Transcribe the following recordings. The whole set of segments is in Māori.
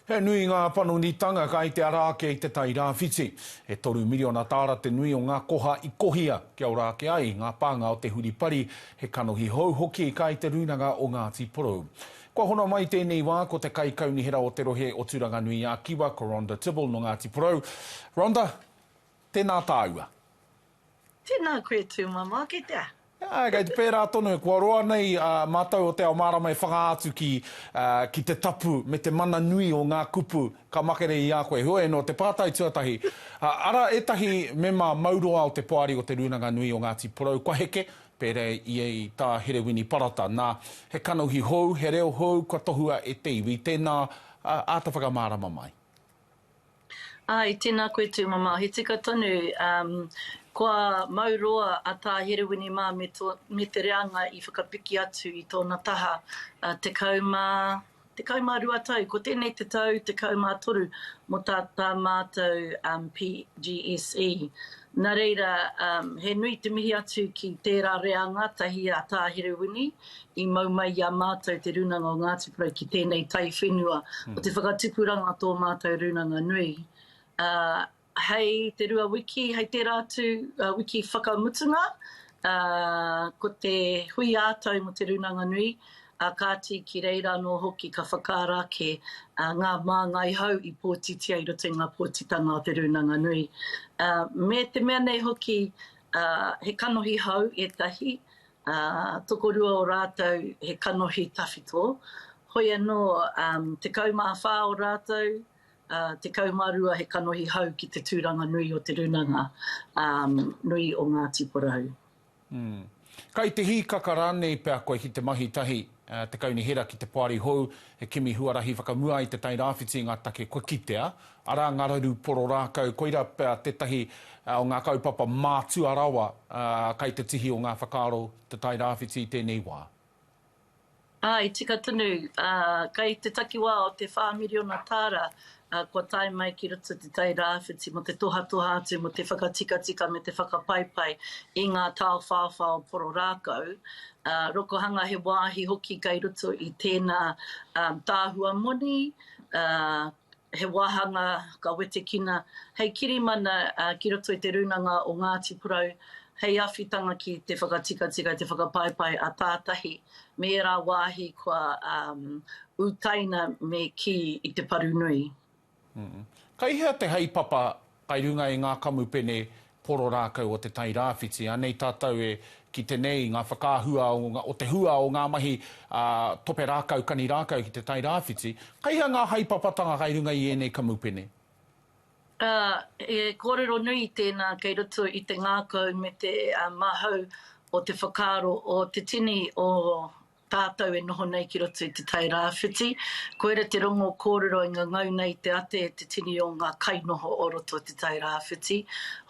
He nui ngā panonitanga kai te ara ake i te Tairāwhiti. E toru miriona tāra te nui o ngā koha i kohia kia ora ake ai ngā pānga o te huripari, he kanohi hou hoki kai te Rūnanga o Ngāti Porou. Kua hono mai tēnei wā ko te Kaikaunihera o te rohe o Tūranganui-ā-Kiwa ko Rhonda Tibble nō Ngāti Porou. Rhonda, tēnā tāua. Tēnā koe tūmama, kei te aha? Āe, kei te pērā tonu, kua roa nei mātou o Te Ao Mārama e whanga atu ki te tapu me te mana nui o ngā kupu ka makere i a koe. Heoi anō, te pātai tuatahi, ara ētahi mema mauroa o te poari o Te Rūnanga Nui o Ngāti Porou kua heke, pērā i a Tā Herewini Parata. Nā, he kanohi hou, he reo hou kua tohua e te iwi, tēnā āta whakamārama mai. Ae, tēnā koe Tūmama, he tika tonu, um, kua mau roa a Tā Herewini mā me tō, me te reanga i whakapiki atu i tōna taha, uh, tekau mā, tekau mā rua tau, ko tēnei te tau tekau mā toru mō tā, tā mātou, um, PGSE. Nā reira, um, he nui te mihi atu ki tērā reanga tahi a Tā Herewini, I mau mai i a mātou te Rūnanga o Ngāti Porou ki tēnei taiwhenua, ko te whakatupuranga tō mātou rūnanga nui. Hei te rua wiki, hei tērā atu wiki whakamutunga, ko te hui ā-tau mō te rūnanga nui, kāti ki reira anō hoki ka whakaara ake ngā māngai hou i pōtitia i roto i ngā pōtitanga o te rūnanga nui. Me te mea nei hoki, he kanohi hou ētahi, Ā, tokorua o rātou he kanohi tawhito, hoi anō, ā, tekau mā whā o rātou, ā, tekau mā rua he kanohi hau ki te tūranga nui o te rūnanga, ā, nui o Ngāti Porou. Ū. Kai te hīkaka rānei pea koe ki te mahi tahi Te Kaunihera ki te Poari Hou, he kimi huarahi whakamua i Te Tai Rāwhiti i ngā take kua kitea, arā ngā raru poro rākau, koirā pea tētahi o ngā kaupapa mātua rawa kai te tihi o ngā whakaaro Te Tai Rāwhiti i tēnei wā. Āe, tika tonu, kai te takiwā o te whā miriona tāra ā, kua tae mai ki roto te Tairāwhiti mō te tohatoha atu mō te whakatikatika me te whakapaipai i ngā taowhaowha o Poro Rākau, ā, rokohanga he wāhi hoki kei roto i tēnā tāhua moni, ā, he wāhanga ka wetekina hei kirimana ki roto i te rūnanga o Ngāti Porou hei awhitanga ki te whakatikatika, te whakapaipai a tātahi me ērā wāhi kua utaina me kī i te paru nui. Kei hea te haepapa kai runga i ngā kamupene poro rākau o Te Tai Rāwhiti? Anei tātou e kite nei i ngā whakaahua o te hua o ngā mahi tope rākau, kani rākau ki Te Tai Rāwhiti. Kei hea ngā haepapatanga kai runga i ēnei kamupene? Ā, he kōrero nui tēnā kei roto i te ngākau me te mahau o te whakaaro o te tini o tātou e noho nei ki roto i Te Tai Rāwhiti. Koira te rongo kōrero i ngangau nei te ate e te tini o ngā kainoho o roto o Te Tai Rāwhiti.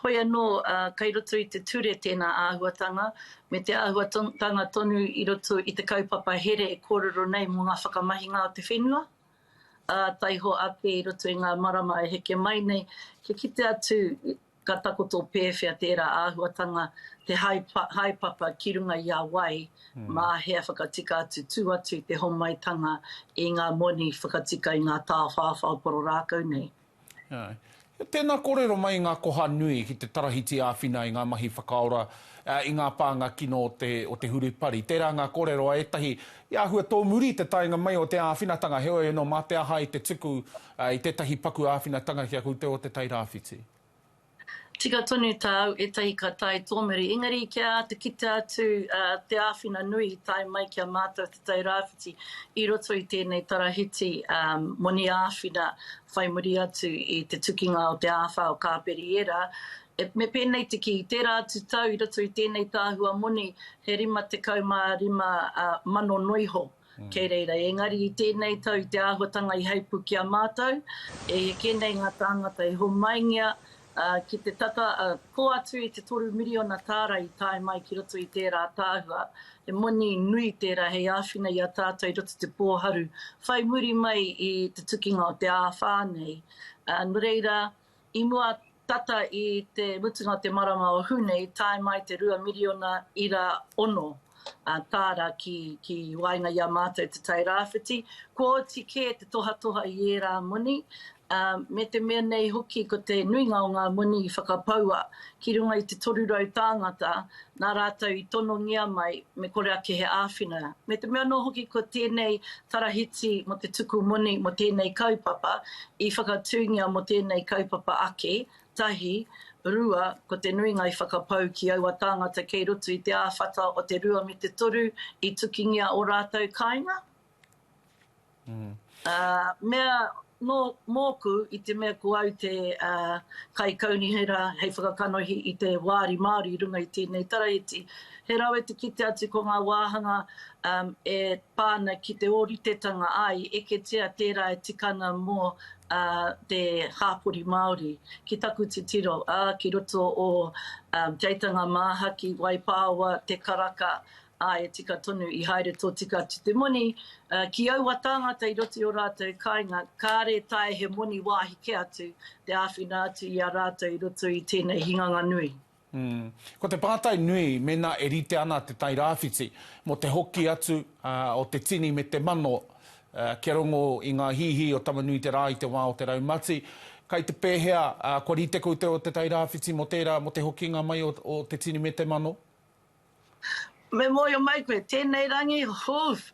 Hoi anō, ā, kei roto i te ture tēnā āhuatanga, me te āhuatanga tonu i roto i te kaupapa here e kōrero nei mō ngā whakamahinga o te whenua. ā, taiho ake i roto i ngā marama e heke mai nei, kia kite atu ka takoto pēwhea tērā āhuatanga, te haepapa ki runga i a wai, mā hea whakatika atu, tū atu i te homaitanga i ngā moni whakatika i ngā tāwhāwhā o Pororākau nei. Tēnā kōrero mai i ngā koha nui ki te tarahiti āwhina i ngā mahi whakaora i ngā pānga kino o te hurupari. Tērā ngā kōrero a ētahi i āhua tōmuri i te taenga mai o te āwhinatanga, heoi anō mā te aha i te tuku i tētahi paku āwhinatanga ki a koutou o Te Tai Rāwhiti? Tika tonu tāu ētahi ka tae tōmuri, engari kia āta kite atu te āwhina nui i tae mai ki a mātou Te Tai Rāwhiti i roto i tēnei tarahiti moni āwhina whai muri atu i te tukinga o te āwhā o Kāperiera. Me pēnei te kī, i tērā atu tau i roto i tēnei tāhua moni he rima tekau mā rima mano noiho. Kei reira, engari i tēnei tau i te āhuatanga i heipū ki a mātou, e heke nei ngā tāngata i homaingia ki te tata kō atu i te toru miriona tāra i tae mai ki roto i tērā ātaahua. He moni nui tērā hei āwhina i a tātou i roto i te pōharu whai muri mai i te tukinga o te āwhā nei. Nō reira, I mua tata i te mutunga o te marama o Hune i tae mai te rua miriona ira ono tāra ki waenga i a mātou Te Tai Rāwhiti, kua oti kē te tohatoha i ērā moni, me te mea nei hoki ko te nuinga o ngā moni i whakapaua ki runga i te 300 tāngata nā rātou i tonongia mai me kore ake he āwhina. Me te mea anō hoki ko tēnei tarahiti mō te tuku moni mō tēnei kaupapa i whakatūngia mō tēnei kaupapa ake, tahi, rua, ko te nuinga i whakapau ki aua tāngata kei roto i te āwhata o te rua me te toru i tukingia ō rātou kāinga. Mea nō mōku i te mea ko au te kaikaunihera hei whakakanohi i te wāri Māori i runga i tēnei taraiti. He rawe te kite atu ko ngā wāhanga e pā ana ki te ōritetanga ā, i eketia tērā e tika ana mō te hāpori Māori. Ki taku titiro, ā, ki roto o Teitanga Māhaki, Waipāoa, Te Karaka, Ā, e tika tonu i haere tōtika atu te moni ki aua tāngata i roto i ō rātou kāinga, kāre e taea he moni wāhi kē atu te āwhina atu i a rātou i roto i tēnei hinganga nui. Ko te pātai nui mēnā e rite ana te Tairāwhiti mō te hoki atu o te tini me te mano kia rongo i ngā hīhī o Tama-nui-te-rā i te wā o te raumati, kai te pēhea kua rite koutou o te Tairāwhiti mō tērā, mō te hokinga mai o te tini me te mano? Me mōhio mai koe, tēnei rangi, hoof,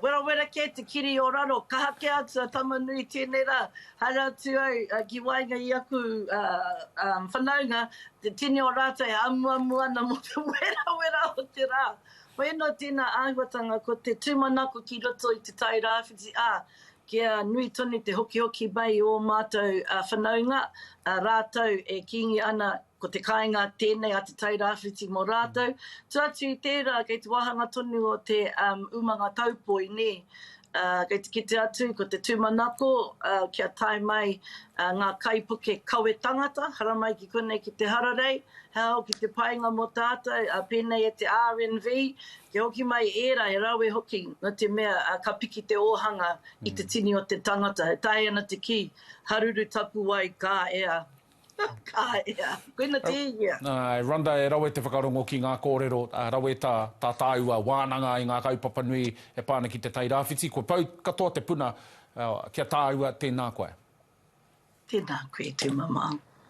werawera kē te kiri o raro, kaha kē atu a tama nui tēnei rā, haere atu ai ki waenga i aku whanaunga, te tini o rātou e amuamu ana mō te werawera o te rā. Hoino tēnā āhuatanga ko te tūmanako ki roto i Te Tai Rāwhiti, ā, kia nui tonu te hokihoki mai i ō mātou whanaunga, rātou e kīngi ana ko te kāinga tēnei a Te Tai Rāwhiti mō rātou. Tū atu i tērā, kei te wāhanga tonu o te umanga taupoi, nē, kei te kite atu ko te tūmanako kia tae mai ngā kaipuke kawe tangata, haramai ki konei ki te hararei, he aha hoki te painga mō tātou, pēnei e te RNV, Kia hoki mai ērā, he rawe hoki, nō te mea, ka piki te ōhanga i te tini o te tangata. E taea ana te kī, haruru tapuwae, ka ea. Ka ea. Koina tēhea. Āe, Rhonda, e rawe te whakarongo ki ngā kōrero, rawe tā, tā tāua wānanga i ngā kaupapa nui e pā ana ki Te Tai Rāwhiti. Kua pau katoa te puna ki a tāua, tēnā koe. Tēnā koe, tēnā māu.